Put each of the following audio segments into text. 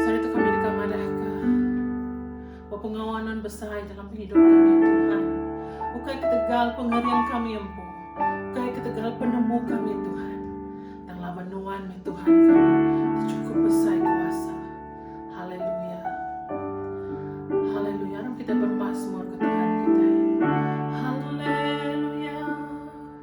Sehari tu kami deka madahka bepengawa non besai dalam pengidup kami, Tuhan. Ukai ketegal pengering kami empu, ukai ketegal penemu kami, Tuhan. Tang laban nuan meh Tuhan kami, dicukup besai kuasa. Haleluya. Haleluya. Aram kita bermasmur ke Tuhan kita. Haleluya.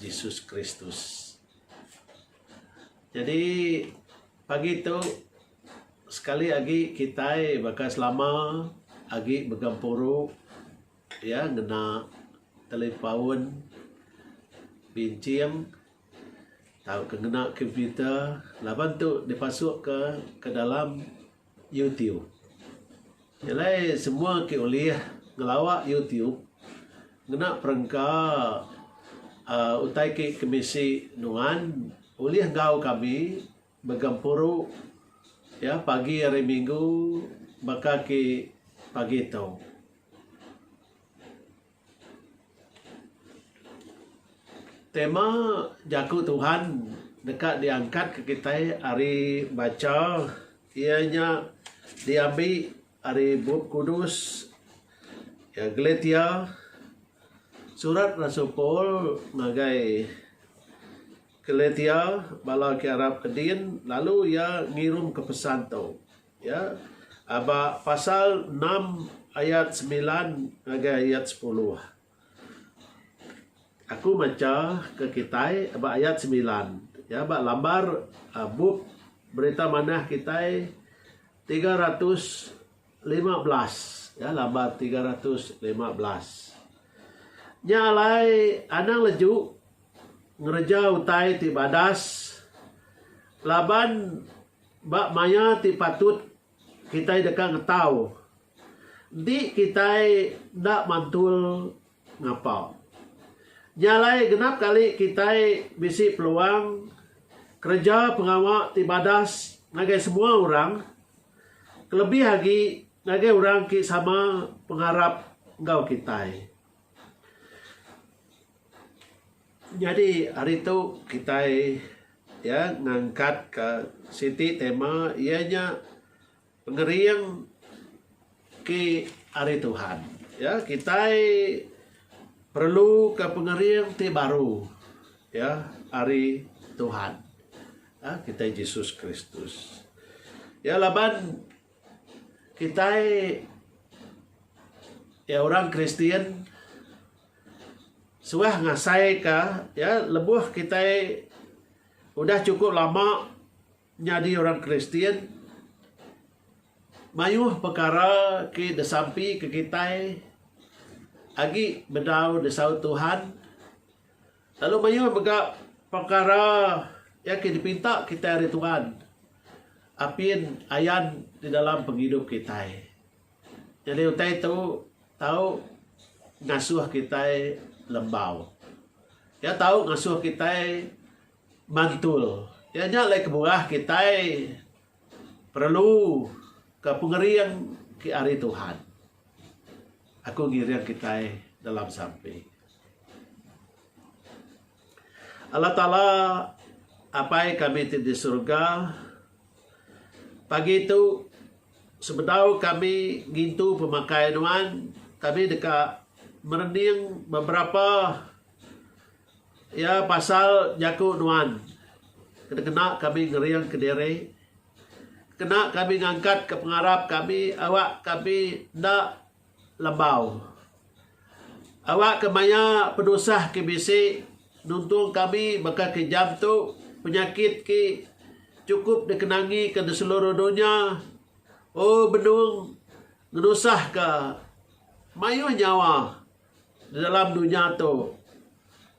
Jesus Kristus. Jadi pagi tu sekali agi kitai baka selama agi begempuru iya ngena telepaun binching tauka ngena komputer laban tu dipasukka ke dalam YouTube. Nya alai semua ke ulih ngelawa YouTube ngena perengka uhh utai ke kemisi nuan ulih enggau kami begempuru iya pagi hari minggu baka ke pagi tu. Tema Jaku Tuhan deka diangkatka kitai ari bacha iya nya diambi ari Bup Kudus Galatia. Surat Rasul Paul ngagai Galatia bala ke arap ke din lalu iya ngirumka pesan tu. Ya, aba pasal enam ayat semilan ngagai ayat sepuluh. Aku macha ke kitai aba ayat semilan. Ya, aba lambar uh, bup berita manah kitai tiga ratus lima belas. Ya, lambar tiga ratus lima belas. Nya alai anang leju ngereja utai ti badas laban Ba maya ti patut, kitai deka ngetau enti kitai enda mantul ngapa. Nya alai genap kali kitai bisi peluang kereja pengawa ti badas ngagai semua orang, kelebih agi ngagai orang ti sama pengarap enggau kitai. Nyadi hari tu kitai iya ngangkatka siti tema iya nya Pengering ke Ari Tuhan. Ya kitai perluka pengering ti baru ya ari Tuhan ya kitai Jesus Kristus. Ya laban kitai ya orang Kristian Suah ngasaika iya lebuh kitai udah chukup lama nyadi orang Kristian, mayuh pekara ti disampi ke kitai agi bedau disaut Tuhan lalu mayuh mega pekara iya ke dipinta kitai ari Tuhan apin ayan di dalam pengidup kitai. Nyadi utai tu tau ngasuh kitai lembau. Iya tau ngasuh kitai mantul. Iya nya alai kebuah kitai perlu ke pengering ke ari Tuhan. Aku ngiring kitai dalam sampi. Allah Taala Apai kami ti di surga pagi tu sebedau kami ngintu pemakai nuan kami deka merening beberapa ya pasal jaku nuan kena kena kami ngering kediri kena kami ngangkat ke pengarap kami awak kami enda Lebau. Awak ke maya penusah ke bisi nuntung kami baka ke jam tu penyakit ke chukup dikenangi ke di seluruh dunya ooh benung ngenusah ke mayuh nyawa di dalam dunya tu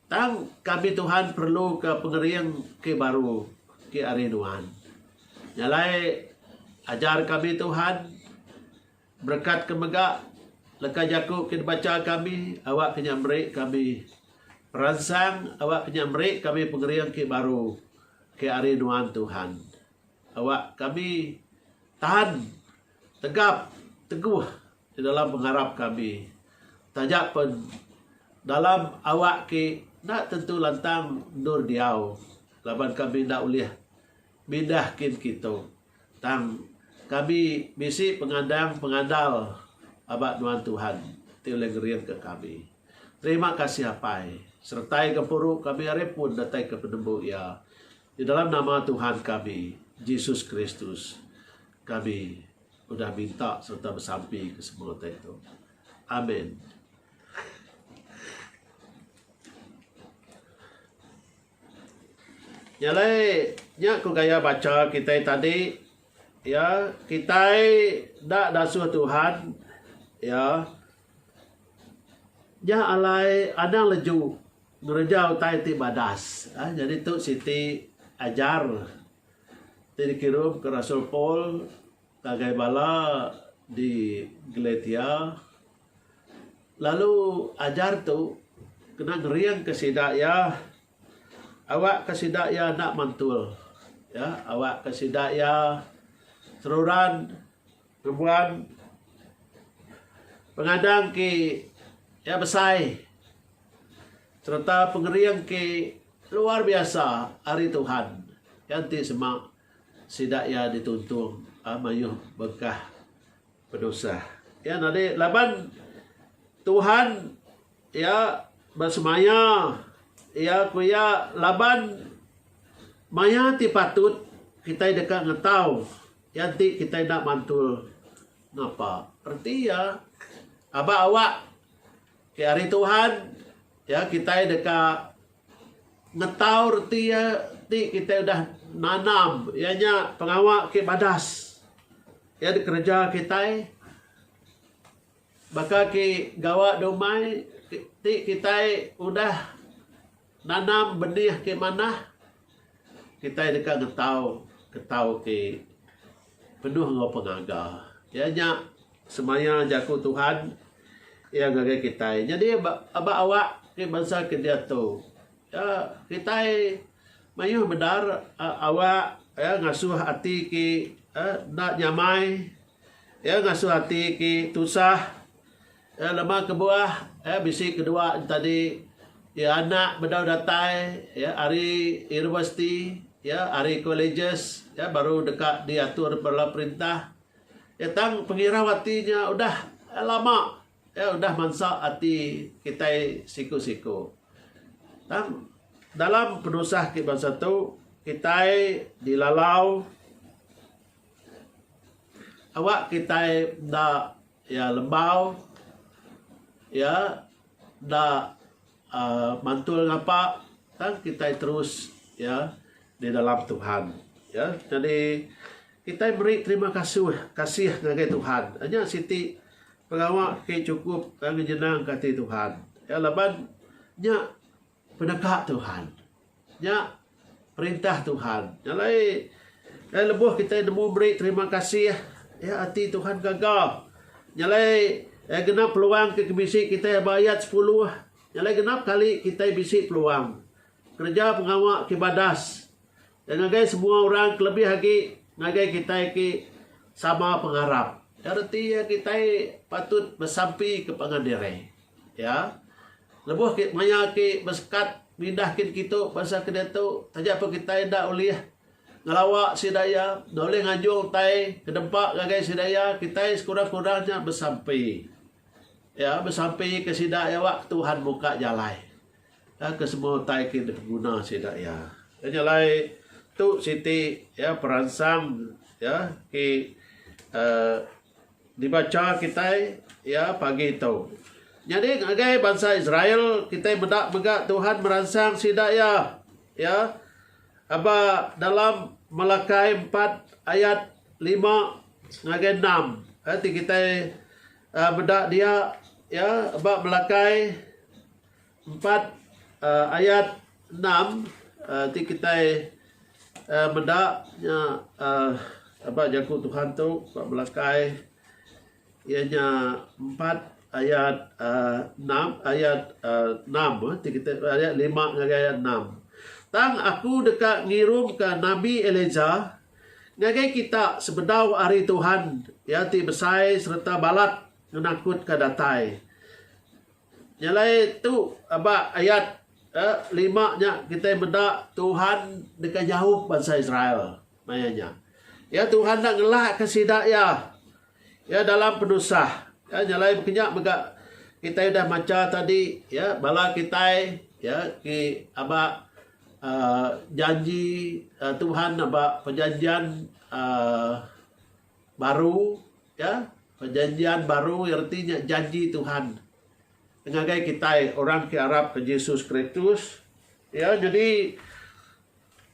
tang kami Tuhan perlu ke pengering ke baru ke ari nuan. Nya alai ajar kami Tuhan Berekat ke mega leka jaku ke dibacha kami awakka nya meri kami peransang awakka nya meri kami pengering ke baru ke ari nuan Tuhan. Awak kami tahan tegap teguh di dalam pengarap kami taja pen dalam awak ke enda tentu lantang endur diau laban kami enda ulih Bidah kin kitu. Tang kami bisi pengadang pengandal aba nuan Tuhan ti ulih ngeringka kami. Terima kasih Apai. Seretai gempuru kami ari pun datai ke penembu iya. Di dalam nama Tuhan kami, Jesus Kristus, kami udah minta sereta besampi ke semua utai tu. Amen. Nya alai nya ku gaya bacha kitai tadi iya kitai enda dasuh Tuhan iya nya alai anang leju ngereja utai ti badas aaa nyadi tu siti ajar ti dikirum ku rasul Paul ngagai bala di Galatia. Lalu ajar tu kena ngeringka sida iya awakka sida iya enda mantul iya awakka sida iya seruran ngembuan pengadang ke iya besai sereta pengering ke luar biasa ari Tuhan iya enti sema sida iya dituntung mayuh berkah. Pedusah. Ya nadi laban Tuhan ya besemaya ya ku ya laban maya ti patut kitai deka ngetau ya enti kitai enda mantul ngapa. Reti ya aba awak ke ari Tuhan ya kitai deka Ngetau reti iya ti kitai udah nanam iya nya pengawa ke badas iya nya kereja kitai baka ke gawa da umai ti kitai udah nanam benih ke manah kitai deka ngetau ngetau ti Penuh enggau pengaga. Iya nya semaya jaku Tuhan iya ngagai kitai. Nyadi aba awak ti bansa ke diatu iya kitai mayuh bedar awak iya ngasuh ati ki enda nyamai iya ngasuh ati ki tusah. Iya lema kebuah iya bisi kedua entadi iya anak bedau datai iya ari universiti iya ari colleges iya baru deka diatur bala perintah iya tang pengirau ati nya udah lama iya udah mansa ati kitai siku-siku tang dalam penusah ke bansa tu kitai dilalau awak kitai enda Iya lembau, iya enda mantul ngapa tang kitai terus iya di dalam Tuhan. Iya nyadi kitai meri terima kasuh kasih ngagai Tuhan. Nya siti pengawa ke chukup ngejenangka ati Tuhan. Iya laban nya Peneka Tuhan. Nya perintah Tuhan. Nya alai eh, lebuh kita nemu meri terima kasih, ya ati Tuhan gaga. Nya alai eh, genap peluang ke bisi kita ba ayat 10. Nya alai genap kali kita bisi peluang kereja pengawa ke badas. Ya ngagai semua orang kelebih agi ngagai kita ke sama pengarap. Ya reti ya kita patut besampi ke pangan diri. Ya, lebuh ke maya ake besekat nindah kin kitu bansa ke diatu taja pun kitai enda ulih ngelawa sida iya, enda ulih nganjung utai kedempa ngagai sida iya, kitai sekurang-kurang nya besampi. Ya, besampi ke sida iya awak Tuhan muka jalai ka ke semua utai ke diguna sida iya. Nya jalai tu siti ya peransang ya ke uhh Dibacha kitai iya pagi tu. Nyadi ngagai bansa Israel, kitai meda mega Tuhan meransang sida iya. Iya aba dalam Malakai empat ayat lima ngagai enam. Ai ti kitai meda dia iya aba Malakai. Empat ayat enam ti kitai meda nya aba jaku Tuhan tu ba belakai iya nya empat ayat enam ayat enam ti kitai ayat lima ngagai ayat enam. Tang aku deka ngirumka nabi Elijah ngagai kita sebedau hari Tuhan iya ti besai sereta balat ngenakutka datai. Nyelai tu ba ayat ke lima nya kitai meda Tuhan deka nyaup bansa Israel maya nya. Iya Tuhan enda ngelakka sida iya iya dalam penusah. Ya nyelai kenya mega kitai udah macha tadi ya bala kitai ya ti aba um janji Tuhan aba perjanjian um Baru, ya. Perjanjian Baru iya reti nya janji Tuhan ngagai kitai orang ti arapka Jesus Kristus, ya. Nyadi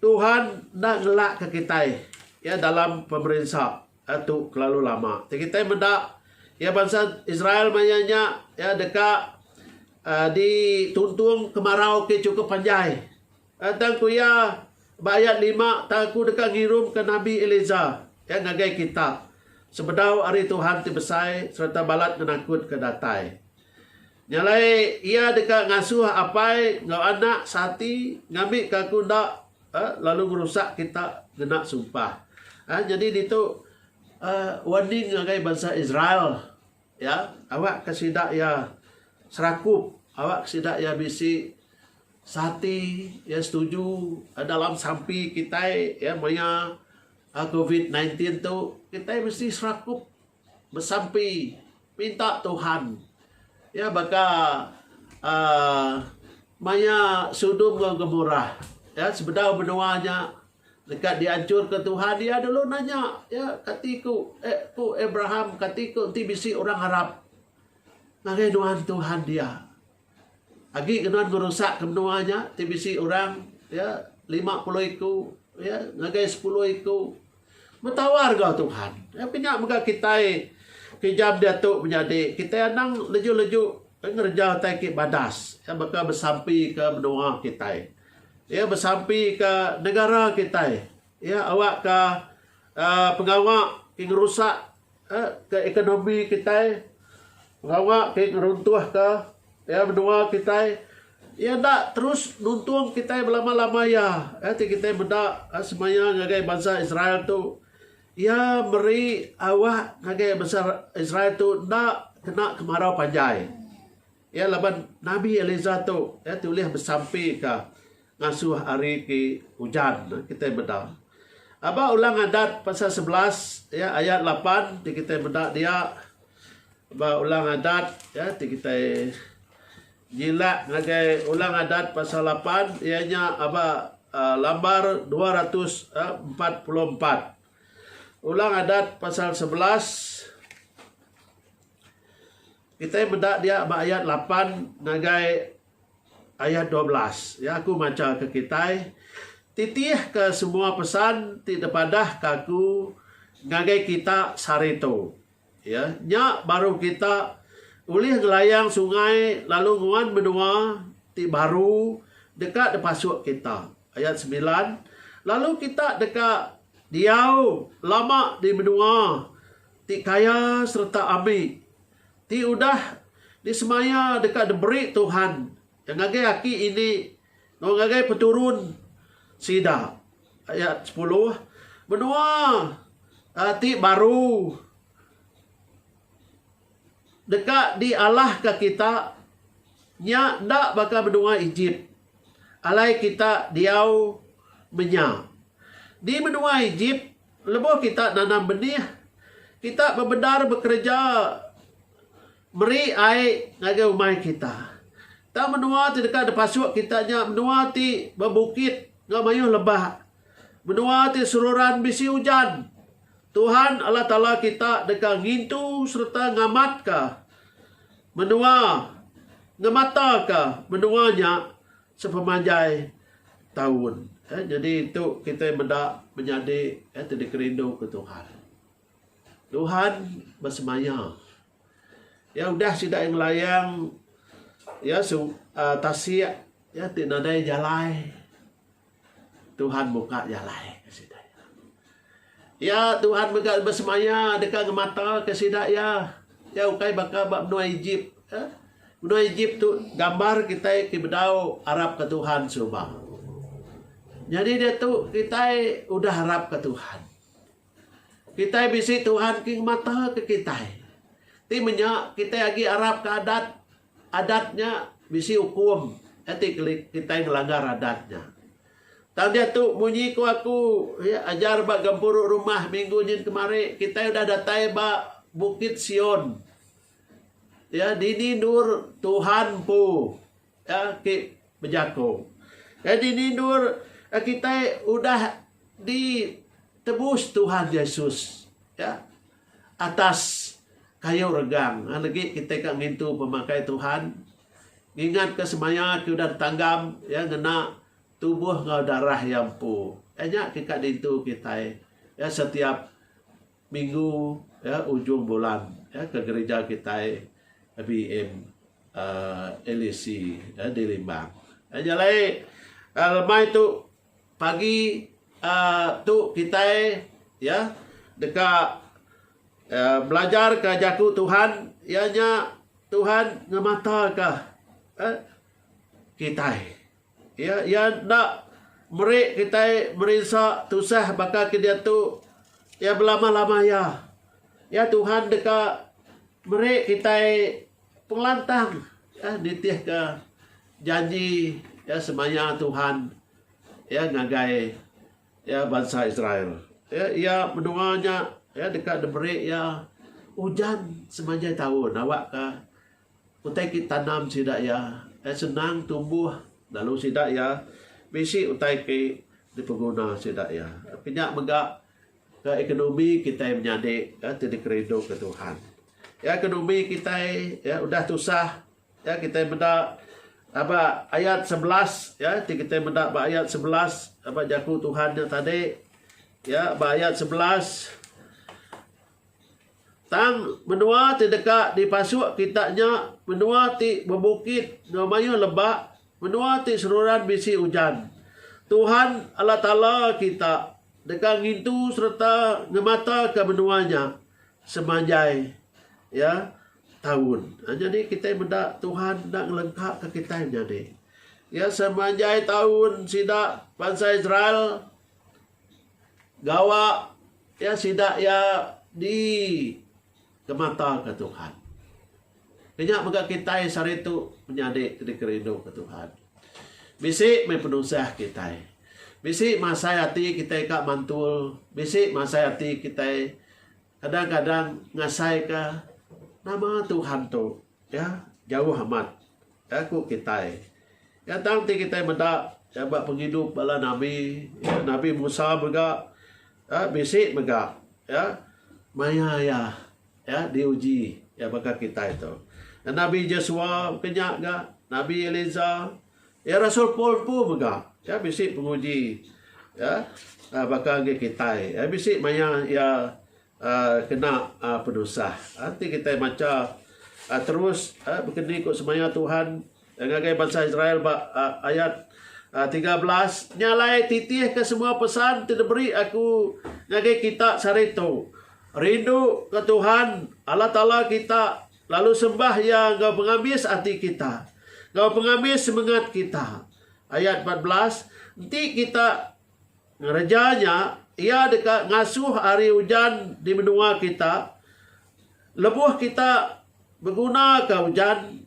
Tuhan enda ngelakka kitai, ya, dalam pemerinsa tu kelalu lama. Ti kitai meda, ya, bansa Israel maya nya, ya, deka dituntung kemarau ti chukup panjai. Tang ku iya, ba ayat lima, Tang aku deka ngirumka nabi Eliezar, iya ngagai kitab, sebedau ari Tuhan ti besai sereta balat ngenakutka datai. Nya alai, iya deka ngasuh apai enggau anak seati ngambika aku enda lalu ngerusak kita ngena sumpah. Nyadi ditu warning ngagai bansa Israel. Iya, awak ka sida iya serakup, awak ka sida iya bisi seati, iya setuju dalam sampi kitai iya maya covid nineteen tin tu kitai mesti serakup besampi minta Tuhan iya baka aaa maya sudum enggau gemurah iya sebedau menua nya Leka dianchurka Tuhan, iya dulu nanya, iya, Kati ku, eh, ku Abraham, kati ku enti bisi orang arap ngagai nuan Tuhan dia? Agi ke nuan ngerusakka menua nya ti bisi orang, iya, lima puluh iku, iya, ngagai sepuluh iku? Betawa regau Tuhan. Iya, ke nya mega kitai ke jam diatu menyadi, kitai anang leju-leju ngereja utai ke badas, iya, baka besampi ke menua kitai. Iya besampi ke negara kitai. Iya awakka uhh pengawa ti ngerusak uhh ke ekonomi kitai, pengawa ti ngeruntuhka iya menua kitai. Iya enda terus nuntung kitai belama-lama iya. Iya ti kitai meda semaya ngagai bansa Israel tu. Iya meri awak ngagai bansa Israel tu enda kena kemarau panjai. Iya laban nabi Eliza tu iya ti ulih besampi ka ngasuh ari ki ujan ne kitai meda. Aba Ulang Adat pasal sebelas ya ayat lapan ti kitai meda dia ba Ulang Adat ya ti kitai nyilak ngagai Ulang Adat pasal lapan iya nya aba uh, lambar 244. Ulang Adat pasal sebelas Kitai meda dia ba ayat lapan ngagai ayat dua belas. Ya, aku machaka kitai, Titihka semua pesan ti dipadahka aku ngagai kita sehari tu. Ya, nya baru kita ulih ngelayang sungai lalu nguan menua ti baru deka dipasuk kita. Ayat semilan, Lalu kita deka diau lama di menua ti kaya sereta ami. ti udah disemaya deka diberi Tuhan iya ngagai aki ini enggau ngagai peturun sida. Ayat sepuluh, Menua aa ti baru deka dialahka kita nya enda baka menua Ejip alai kita diau menya. Di menua Ejip, Lebuh kita nanam benih, kita bebendar bekereja meri ai ngagai umai kita. Tang menua ti deka dipasuk kita nya menua ti bebukit enggau mayuh lebak. Menua ti seruran bisi ujan. Tuhan Allah Taala kita deka ngintu sereta ngamatka menua ngemataka menua nya Sepemanjai taun. Eh, nyadi tu kitai meda menyadi eh, ti dikerinduka Tuhan. Tuhan besemaya. Ya udah sida ngelayang ya su, uh, tasik ya ti nadai jalai. Tuhan buka jalai ke sida. Iya, Tuhan mega besemaya deka ngemataka sida iya. Iya ukai baka ba menua Ejip. Menua Ejip tu gambar kitai ti bedau arapka Tuhan suba. Nyadi diatu kitai udah arapka Tuhan. Kitai bisi Tuhan ti ngemataka kitai. Ti menya kitai agi arapka adat Adat nya bisi ukum iya ti keli kitai ngelanggar adat nya. Tang diatu munyi ku aku iya ajar ba gempuru rumah minggu nyin kemari kitai udah datai ba Bukit Sion iya dini endur Tuhan empu iya ti bejaku. Iya dini endur iya kitai udah ditebus Tuhan Yesus iya. Atas kayu regang legi kitai ka ngintu pemakai Tuhan ngingat ka semaya ke udah ditanggam iya ngena tubuh enggau darah iya empu. Iya nya ke ka dintu kitai iya setiap minggu iya ujung bulan iya ke gerija kitai BM uhh LAC di Limbang. Iya nya alai uhh lemai tu Pagi tu kitai ya deka belajarka jaku Tuhan iya nya Tuhan ngemataka kitai. Ya iya enda meri kitai merinsa tusah baka ke diatu iya belama-lama iya. Ya Tuhan deka meri kitai Pengelantang ya nitihka janji ya semaya Tuhan ya ngagai ya bansa Israel. Ya iya menua nya ya deka diberi iya ujan semanjai taun awakka utai ti ditanam sida iya ya senang tumbuh lalu sida iya bisi utai ti dipeguna sida iya. Nya mega Ka ekonomi kitai menyadi ka ti dikerinduka Tuhan. Ka ekonomi kitai ya udah tusah ya kitai meda aba ayat sebelas ya ti kitai meda ba ayat sebelas aba jaku Tuhan nya tadi ya ba ayat sebelas Tang menua ti deka dipasuk kita nya menua ti bebukit enggau mayuh lebak, menua ti seruran bisi ujan. Tuhan, Allah Taala kita, deka ngintu sereta ngemataka menua nya semanjai iya taun. Ha, nyadi kitai meda Tuhan enda ngelengkaka kitai menyadi. Iya semanjai taun sida bansa Israel gawa iya sida iya di temata ke Tuhan. Kinya mega kitai saritu menyadi ti dikerindu ke Tuhan. Bisi meh penusah kitai. Bisi masai ati kitai ka mantul, bisi masai ati kitai Kadang-kadang ngasaika nama Tuhan tu ya jauh amat ya ku kitai. Ya tang ti kitai meda ya ba pengidup bala nabi, ya, nabi Musa mega ya bisi mega ya maya iya ya diuji ya baka kitai tu. Nabi Jesua ke nya ga, nabi Eliza. Ya rasul Paul empu mega ya bisi penguji ya uh, baka agi kitai ya bisi maya ya uh, kena uh, penusah nanti uh, kitai maca uh, terus uh, berkendi ku semaya Tuhan yang ngagai bangsa Israel ba uh, ayat uh, 13 nyalai titih ke semua pesan ti diberi aku ngagai kita sehari tu rindu ke Tuhan Allah Taala kita Lalu sembah Iya enggau pengabis ati kita, enggau pengabis semengat kita. Ayat empat belas, Enti kita ngereja nya, iya deka ngasuh ari ujan di menua kita lebuh kita begunaka ujan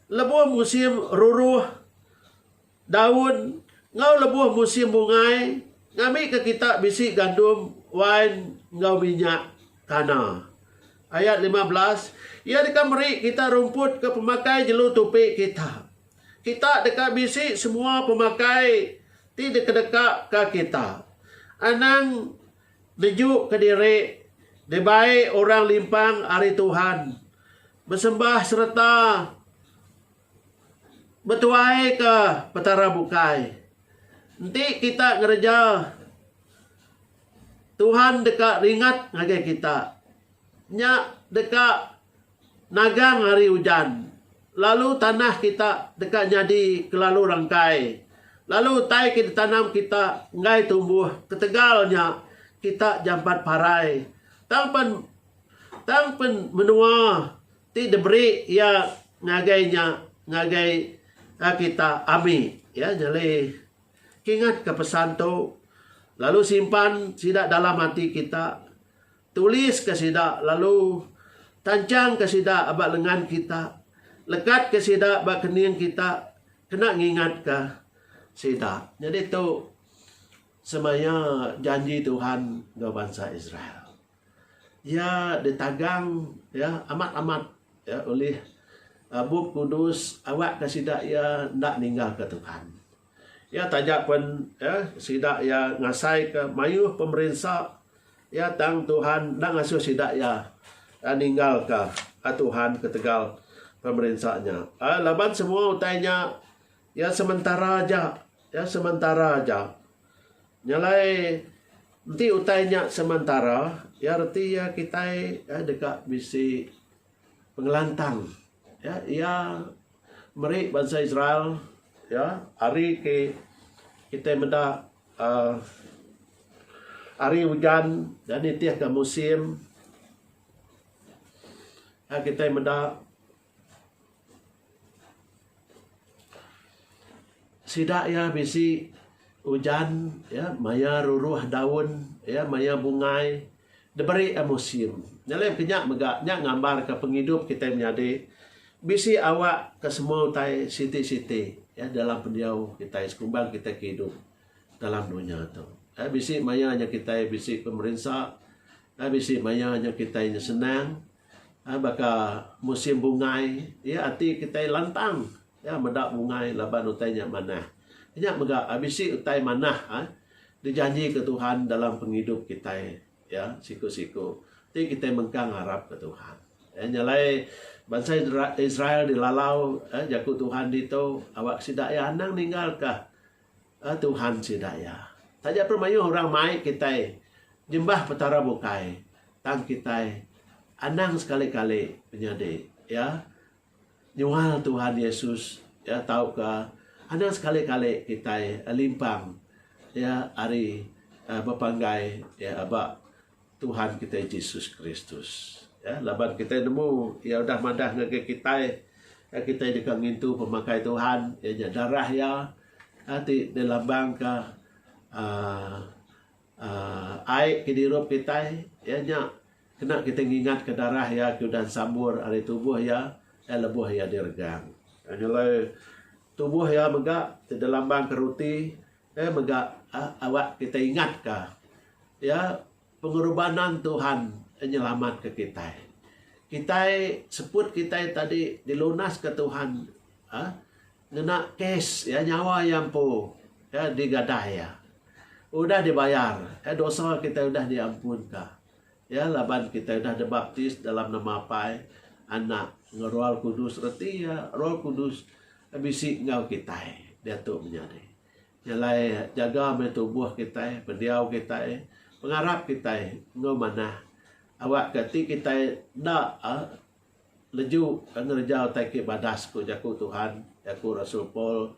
lebuh musim ruruh. Daun enggau lebuh musim bungai ngambika kita bisi gandum, wain enggau minyak tana. Ayat lima belas, Iya deka meri kita rumput ke pemakai jelu tupi kita. Kita deka bisi semua pemakai ti dikedekaka kita. Anang nejuka diri dibai orang limpang ari Tuhan, besembah sereta Betuaika Petara bukai. Enti kita ngereja, Tuhan deka ringat ngagai kita. Nya deka nagang hari ujan, lalu tanah kita deka nyadi kelalu rengkai, lalu utai ke ditanam kita enggai tumbuh ketegal nya kita jampat parai. Tang pen tang pen menua. ti diberi iya ngagai nya ngagai kita ami iya nyadi ingatka pesan tu lalu simpan sida dalam ati kita tuliska sida lalu tanchangka sida ba lengan kita lekatka sida ba kening kita kena ngingatka sida nyadi tu semaya janji Tuhan enggau bansa Israel. Iya ditagang iya amat amat iya ulih Bup Kudus awakka sida iya enda ninggalka Tuhan. Iya taja pen iya sida iya ngasaika mayuh pemerinsa iya tang Tuhan enda ngasuh sida iya ninggalka Tuhan ketegal pemerinsa nya. Laban semua utai nya Iya sementara aja. Iya sementara aja. Nyalai enti utai nya sementara, iya reti iya kitai iya deka bisi pengelantang. Iya iya meri bansa Israel iya hari ti kitai meda aaa hari ujan dan nitihka musim. Aaa kitai meda. Sida iya bisi ujan iya maya ruruh daun iya maya bungai diberi iya musim. Nyadi mega kinya mega nya ngambar ka pengidup kitai menyadi bisi awak ka semua utai siti siti iya dalam pendiau kitai sekumbang kitai ke idup dalam dunya tu. Iya bisi maya nya kitai bisi pemerinsa iya bisi maya nya kitai senang. Baka musim bungai, iya ati kitai lantang meda bungai laban utai nya manah. Nya mega bisi utai manah dijanjika Tuhan dalam pengidup kitai iya siku-siku ti kitai mengkang ngarapka Tuhan. Nya alai bansa Israel dilalau jaku Tuhan ditu awak sida iya anang ninggalka. A Tuhan sida iya. Taja pun mayuh orang mai kitai nyembah Petara bukai, tang kitai anang sekali-kali penyadi iya nyual Tuhan Yesus iya tauka anang sekali-kali kitai limpang iya ari bepanggai iya ba Tuhan kitai Jesus Kristus. Ya, laban kitai nemu iya udah madah ngagai kitai, ya, kitai deka ngintu pemakai Tuhan, iya nya darah iya ya, ti dilambangka uh, uh, ai ke dirup kitai, iya nya kena kita ngingat ke darah iya ke udah sambur ari tubuh iya, ya, lebuh iya diregang. Nyelai tubuh iya mega ti dilambangka roti, Ke mega awak kitai ingatka iya pengorbanan Tuhan nyelamatka kitai. Kitai seput kitai tadi dilunaska Tuhan ngena kes iya nyawa iya empu ke digadah iya. Udah dibayar dosa kitai udah diampunka. Iya laban kitai udah dibaptis dalam nama Apai, Anak, enggau Roal Kudus reti iya Roal Kudus bisi enggau kitai diatu menyadi. Nya alai jaga meh tubuh kitai, pendiau kitai, pengarap kitai enggau manah awakka ti kitai enda leju ngereja utai ke badas ku jaku Tuhan, jaku rasul Paul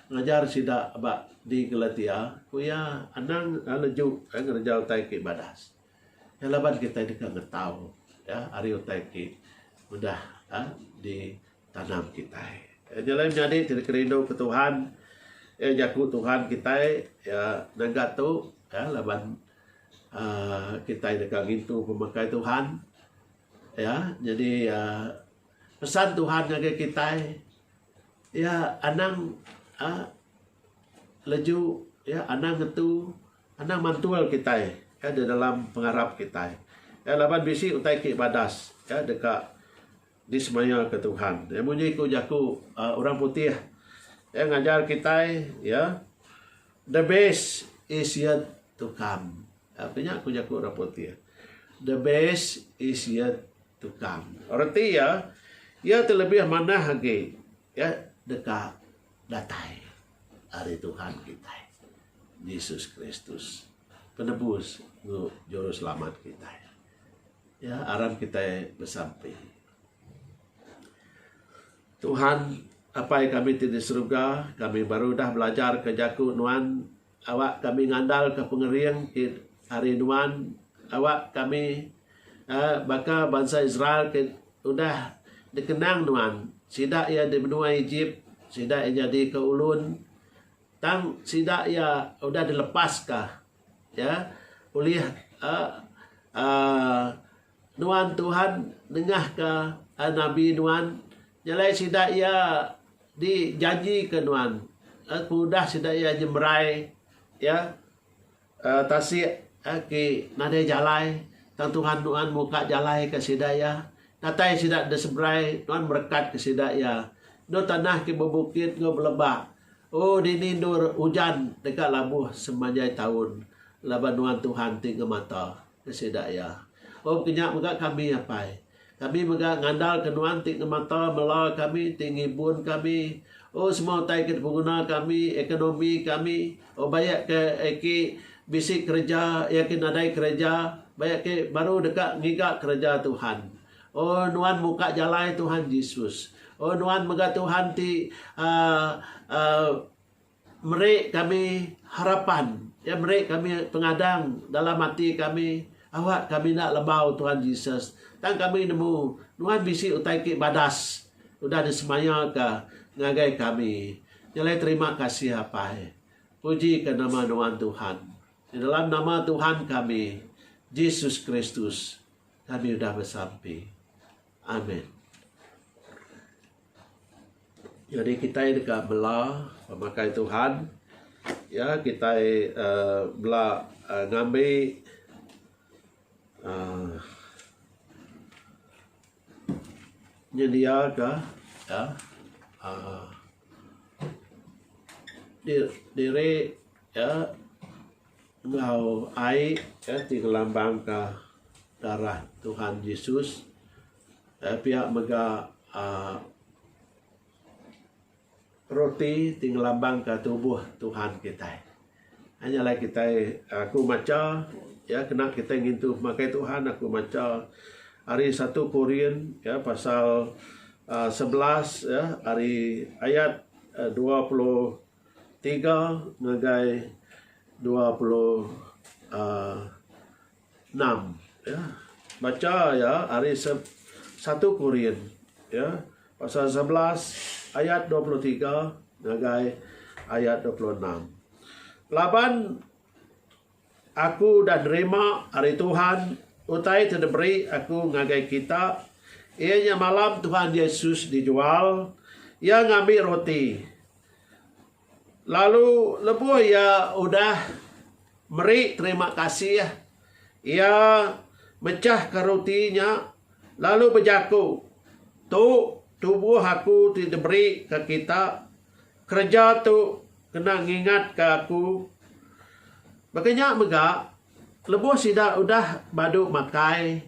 ngajar sida ba di Galatia ku iya anang leju ngereja utai ke badas. Nya laban kitai deka ngetau ari utai ti udah ditanam kitai. Nya alai menyadi ti dikerinduka Tuhan iya jaku Tuhan kitai ngaga tu laban uhh kitai deka ngintu pemakai Tuhan iya nyadi pesan Tuhan ngagai kitai iya anang uhh leju iya anang ngetu. Anang mantul kitai ya di dalam pengarap kitai ya laban bisi utai ti badas ya deka dismayaka Tuhan. Ya munyi ku jaku uh, orang putih ya ngajar kitai ya the best is yet to come. Ya punya ku jaku orang putih. The best is yet to come. Arti ya ia ya terlebih manah lagi ya deka datai hari Tuhan kita. Jesus Kristus penebus enggau juruselamat kitai. Ya aram kitai besampi. Tuhan Apai kami ti di seruga, kami baru dah belajar ke jaku Nuan awak kami ngandal ke pengering ti ari Nuan awak kami eh, baka bansa Israel ke udah dikenang Nuan sida iya di menua Ejip sida iya nyadi ke ulun Tang sida iya udah dilepas ka iya ulih nuan Tuhan nengah ka nabi nuan nyelai sida iya di janji ka nuan pengudah sida iya nyemerai iya. Tasik agi nadai jalai tang Tuhan nuan muka jalai ka sida iya. Datai sida enda seberai, nuan merekat ka sida iya. Endur tanah ke bebukit enggau beleba. O dini endur ujan deka labuh semanjai taun, laban nuan Tuhan ti ngemata. Ke sida iya. Oh ke nya mega kami apai. Kami mega ngandalka Nuan ti ngemata mela kami, ti ngibun kami. Oh semua utai ke dipenguna kami, ekonomi kami. Oh baya ke eki bisi kereja, iya eki nadai kereja, baya eki baru deka ngiga kereja Tuhan. Oh Nuan muka jalai Tuhan Jesus. Oh Nuan mega Tuhan ti uhh uhh. Meri kami harapan. Iya meri kami pengadang dalam ati kami awak kami enda lebau Tuhan Jesus. Tang kami nemu Nuan bisi utai ti badas udah disemaya ka ngagai kami. Nyelai terima kasih Apai. Puji ka nama Nuan Tuhan. Di dalam nama Tuhan kami Jesus Kristus kami udah besampi. Amen. Jadi kita deka bela pemakai Tuhan. Ya, kita uh, eh, bela uh, eh, ngambi uh, nyedia ke ya uh, diri ya Enggau ai eh ti ngelambangka darah Tuhan Jesus eh pia mega aaa roti ti ngelambangka tubuh Tuhan kitai. Ai nya alai kitai aku macha ya kena kitai ngintu pemakai Tuhan aku macha ari satu Korin ya pasal aaa sebelas ya ari ayat dua puluh. Tiga ngagai dua puluh enam. Bacha iya ari satu Korin pasal sebelas ayat dua puluh tiga ngagai ayat dua puluh enam. Laban. Aku udah nerima ari Tuhan utai ti diberi aku ngagai kita, iya nya malam Tuhan Yesus dijual, iya ngambi roti, lalu lebuh iya udah meri terima kasih, iya mechahka roti nya lalu bejaku, Tu tubuh aku ti diberi ka kita, kereja tu Kena ngingatka aku. Baka nya mega, lebuh sida udah badu makai,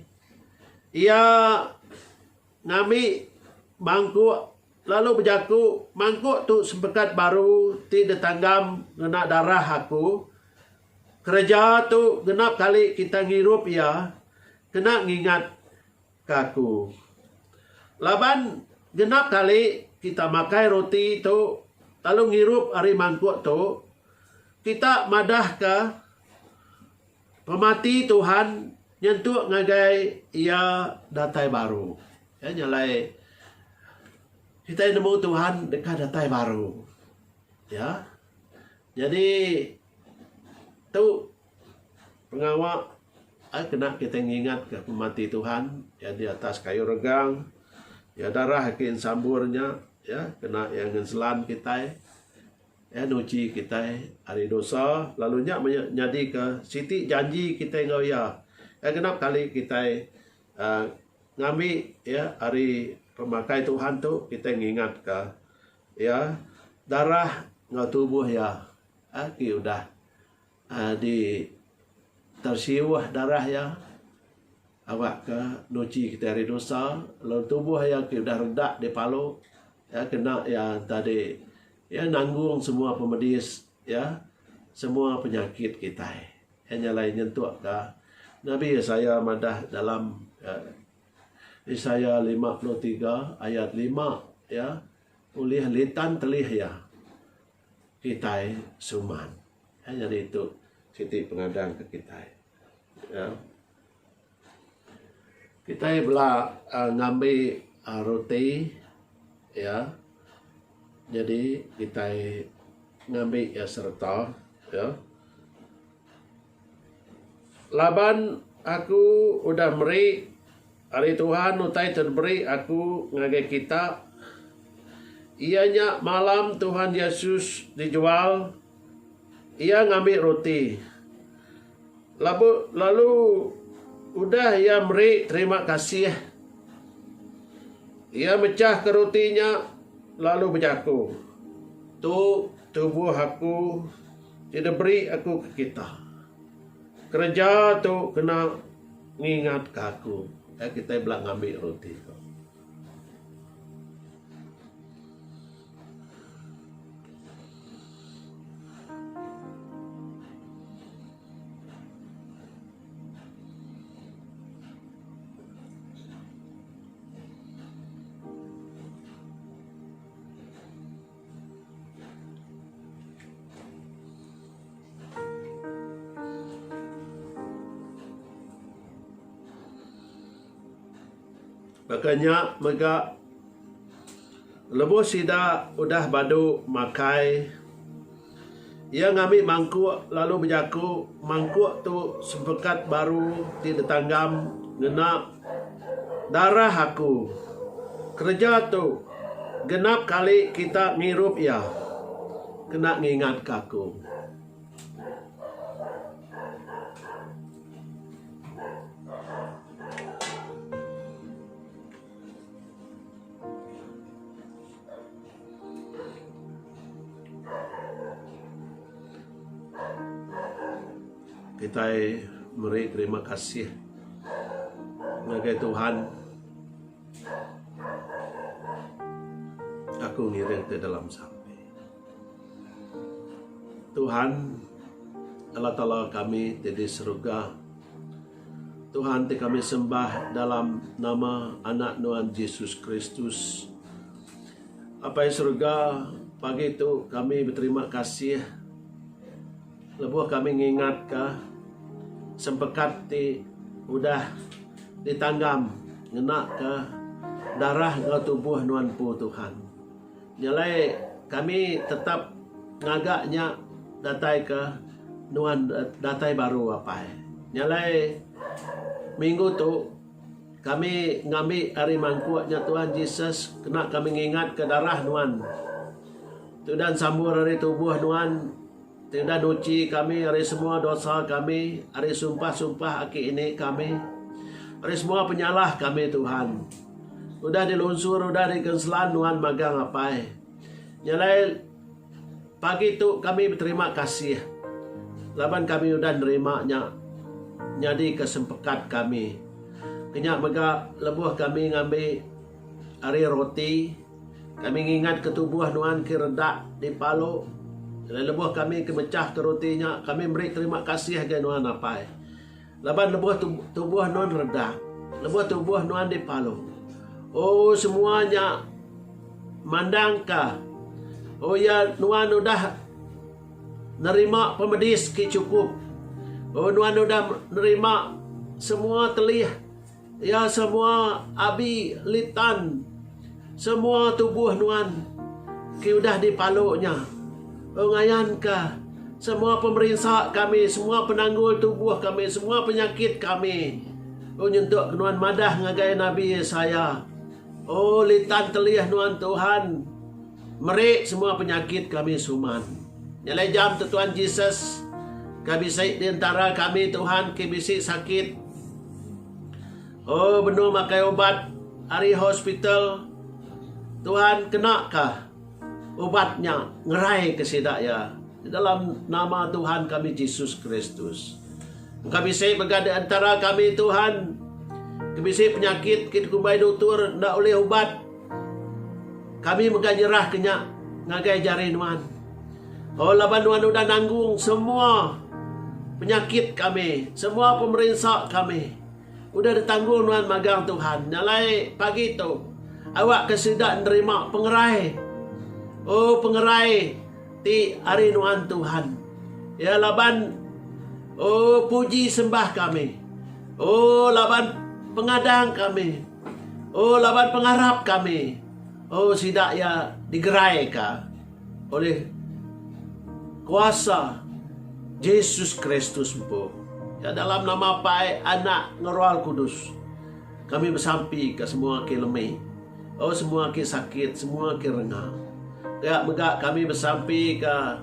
iya ngambi mangkuk lalu bejaku, Mangkuk tu sempekat baru ti ditanggam ngena darah aku. Kereja tu genap kali kita ngirup iya. Kena ngingat. ka aku. Laban genap kali kita makai roti tu lalu ngirup ari mangkuk tu, kita madahka pemati Tuhan nyentuk ngagai Iya datai baru. Ya, nya alai kitai nemu Tuhan deka datai baru. Ya. Nyadi tu pengawa ai kena kitai ngingat ka pemati Tuhan iya di atas kayu regang iya darah ke ensambur nya iya kena iya ngenselan kitai iya nuchi kitai ari dosa lalu nya maya nyadi ka siti janji kitai enggau iya iya genap kali kitai um ngambi iya ari pemakai Tuhan tu kitai ngingat ka iya darah enggau tubuh iya um ti udah Di tersiuh darah iya awakka nuchi kitai ari dosa lalu tubuh iya ti udah reda dipalu iya kena iya tadi iya nanggung semua pemedis iya semua penyakit kitai. Iya nya alai nyentukka Nabi Isaiah madah dalam Isaiah lima puluh tiga ayat lima iya ulih litan telih iya. Kitai suman. Ai nyadi tu siti pengadang ke kitai. Aaa. Kitai bela aaa ngambi aaa roti iya nyadi kitai ngambi iya sereta iya. Laban aku udah meri ari Tuhan utai ti diberi aku ngagai kita, iya nya malam Tuhan Yesus dijual, iya ngambi roti, labu lalu udah iya meri terima kasih, iya mechahka roti nya lalu bejaku, Tu tubuh aku. Ti diberi aku ke kita. Kereja tu kena ngingat ke aku ai kitai bela ngambi roti tu. Baka nya mega lebuh sida udah badu makai. Iya ngambi mangkuk lalu bejaku, Mangkuk tu sempekat baru ti ditanggam ngena darah aku. Kereja tu genap kali kita ngirup iya kena ngingatka aku. Kitai meri terima kasih ngagai Tuhan. Aku ngiring ti dalam sampi. Tuhan Allah Taala kami ti di seruga. Tuhan ti kami sembah dalam nama Anak Nuan Jesus Kristus. Apai Surga, pagi tu kami beterima kasih lebuh kami ngingatka sempekat ti udah ditanggam ngenaka darah enggau tubuh Nuan Empu Tuhan. Jalai kami tetap ngaga nya datai ke nuan datai baru apai. Jalai minggu tu kami ngambi ari mangkuk nya Tuhan Jesus kena kami ngingatka darah nuan. Tudan sambur ari tubuh nuan Tudah nuchi kami ari semua dosa kami, ari sumpah-sumpah aki ini kami, ari semua penyalah kami Tuhan. Udah di lunsur udah di kenselan nuan magang apai. Nya alai pagi tu kami beterima kasih laban kami udah nerima nya nyadi ke sempekat kami. Kenya mega lebuh kami ngambi ari roti. Kami ngingatka tubuh nuan ke redak dipalu. Jalai lebuh kami ke mechahka roti nya, kami meri terima kasih ngagai nuan, Apai. Laban lebuh tu tubuh nuan redak, lebuh tubuh nuan dipalu. O semua nya mandangka, O ya, nuan udah nerima pemedis ke chukup. O nuan udah nerima semua telih. Iya semua abi litan semua tubuh nuan ti udah dipalu nya. Ung ngayanka semua pemerinsa kami, semua penanggul tubuh kami, semua penyakit kami. Ung nyentuk nuan madah ngagai Nabi Yesaya, O litan telih nuan Tuhan, Meri semua penyakit kami suman. Nyalai jam tu Tuhan Jesus ke bisi di entara kami Tuhan ke bisi sakit. Oh benung makai ubat ari hospital. Tuhan kena ka ubat nya ngerai ke sida ya di dalam nama Tuhan kami Jesus Kristus. Engka bisi mega di entara kami Tuhan ke bisi penyakit ke dikumbai doktor enda ulih ubat. Kami mega nyerahka nya ngagai jari nuan. Oh, laban nuan udah nanggung semua penyakit kami, semua pemerinsa kami. Udah ditanggung nuan magang Tuhan. Nya alai pagi tu, awakka sida nerima pengerai. Oh, pengerai ti ari nuan Tuhan. Ya, laban, oh, puji sembah kami. Oh, laban pengadang kami. Oh laban pengarap kami, oh sida iya digeraika olih kuasa Jesus Kristus empu. Nya dalam nama Apai, Anak, enggau Roh Kudus kami besampika semua ke lemi, oh semua ke sakit, semua ke renga. Pia mega kami besampika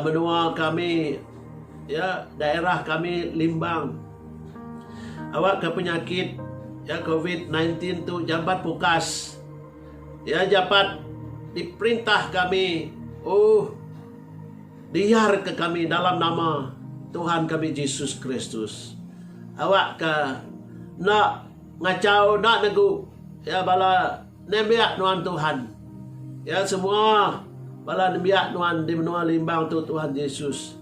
menua kami, ya, daerah kami Limbang. Awakka penyakit ya covid nine tin tu jambat pukas ya japat diperintah kami uh diarka kami dalam nama Tuhan kami Jesus Kristus awakka enda ngachau enda negu ya bala Nembiak nuan Tuhan. Ya semua bala nembiak nuan di menua Limbang tu Tuhan Jesus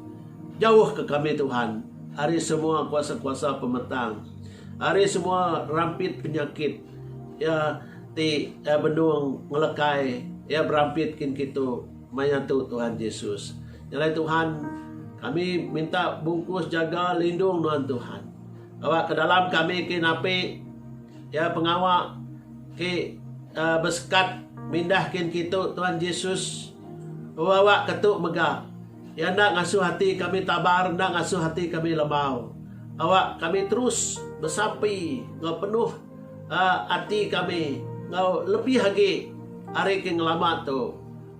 jauh ke kami Tuhan ari semua kuasa-kuasa pemetang ari semua rampit penyakit ya ti ya benung ngelekai ya berampit kin kitu maya tu Tuhan Jesus nyalai Tuhan kami minta bungkus jaga lindung nuan Tuhan bawa ke dalam kami kin api Iya pengawa ke besekat mindah kin kitu Tuan Jesus bebawa ketu mega. Iya enda ngasuh ati kami tabar enda ngasuh ati kami lembau. Awak kami terus besampi enggau penuh ati kami enggau lebih agi ari ke ngelama tu.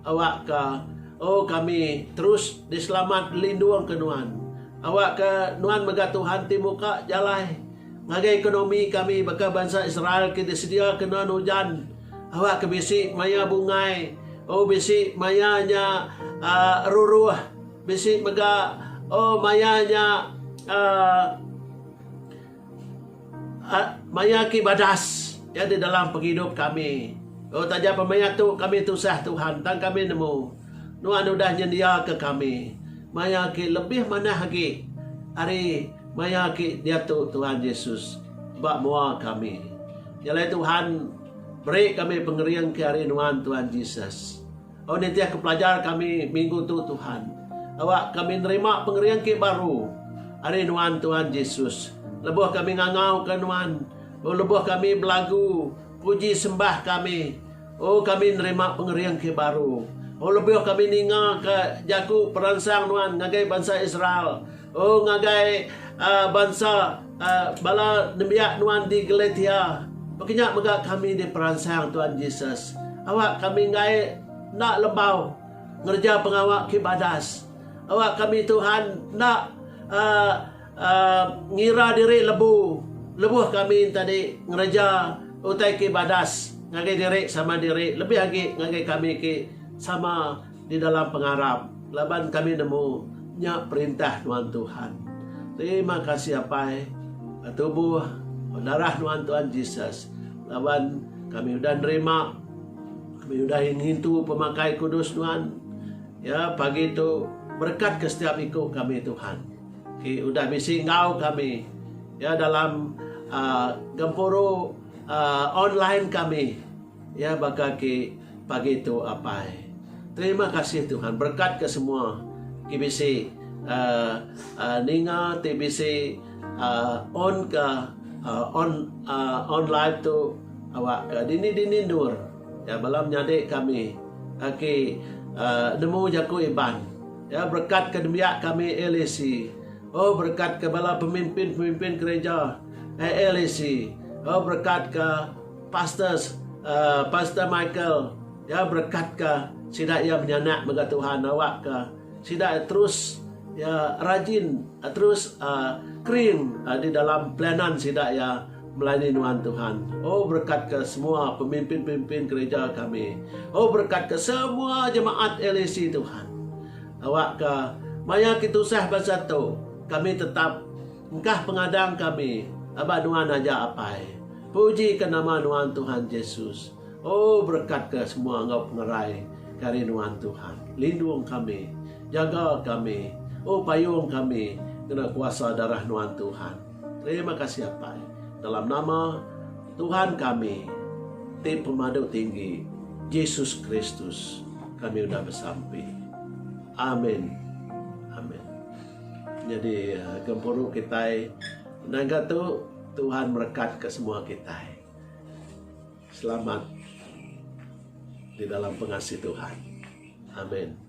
Awak ka oh kami terus diselamat lindung ke nuan. Awak ka nuan mega Tuhan ti muka jalai. Ngagai ekonomi kami baka bansa Israel ke disedia ke nuan ujan awak ke bisi maya bungai oh bisi maya nya uh, ruruh bisi mega oh maya nya uh, uh, maya ki badas ya di dalam penghidup kami oh taja pemaya tu kami tusah Tuhan tang kami nemu nuan udah nyendia ke kami maya ki lebih manah agi hari Maya agi diatu Tuhan Yesus ba mua kami. Nyalai Tuhan beri kami pengering ke ari nuan Tuhan Jesus. Au nitih ke pelajar kami minggu tu Tuhan. Awa kami nerima pengering ke baru ari nuan Tuhan Jesus. Lebuh kami ngangau ke nuan. O lebuh kami belagu puji sembah kami. O kami nerima pengering ke baru. O lebuh kami ninga ke jaku peransang nuan ngagai bansa Israel. Oh ngagai bansa bala nembiak nuan di Galatia, baka nya mega kami diperansang Tuan Jesus. Awak kami enggai enda lembau ngereja pengawa ke badas. Awak kami Tuhan enda ngira diri lebu lebuh kami tadi ngereja utai ke badas ngagai diri sama diri lebih agi ngagai kami ke sama. Di dalam pengarap laban kami nemu nya perintah nuan Tuhan. Terima kasih Apai ba tubuh ba darah nuan Tuhan Jesus laban kami udah nerima kami udah ngintu pemakai kudus nuan ya pagi tu berekat ke setiap iku kami Tuhan ti udah bisi enggau kami ya dalam aaa gempuru aaa online kami. Iya baka ki pagi tu apai. Terima kasih Tuhan berkat ke semua ki bisi ninga ti bisi on ka on live tu awak ka dini dini endur ya bala menyadi kami aki nemu jaku iban ya berkat ke nembiak kami LAC oh berkat ke bala pemimpin pemimpin gereja LAC oh berkat ka Pastors Pastor Michael ya berekat ka sida ya menyanak mega Tuhan awak ka sida terus ya rajin terus kering di dalam pelayanan sida ya melayani nuan Tuhan oh berekat ka semua pemimpin pemimpin gereja kami oh berekat ka semua jemaat LAC Tuhan awak ka maya ki tusah bansa tu kami tetap Engkah pengadang kami aba nuan aja apai. Puji ka nama nuan Tuhan Jesus. Oh berekat ka semua enggau pengerai ke ari nuan Tuhan. Lindung kami. Jaga kami. Oh payung kami ngena kuasa darah nuan Tuhan. Terima kasih apai. Dalam nama Tuhan kami ti pemadu tinggi Jesus Kristus kami udah besampi. Amin. Amin. Nyadi gempuru kitai ngaga tu Tuhan merekat ke semua kitai selamat di dalam pengasih Tuhan. Amen.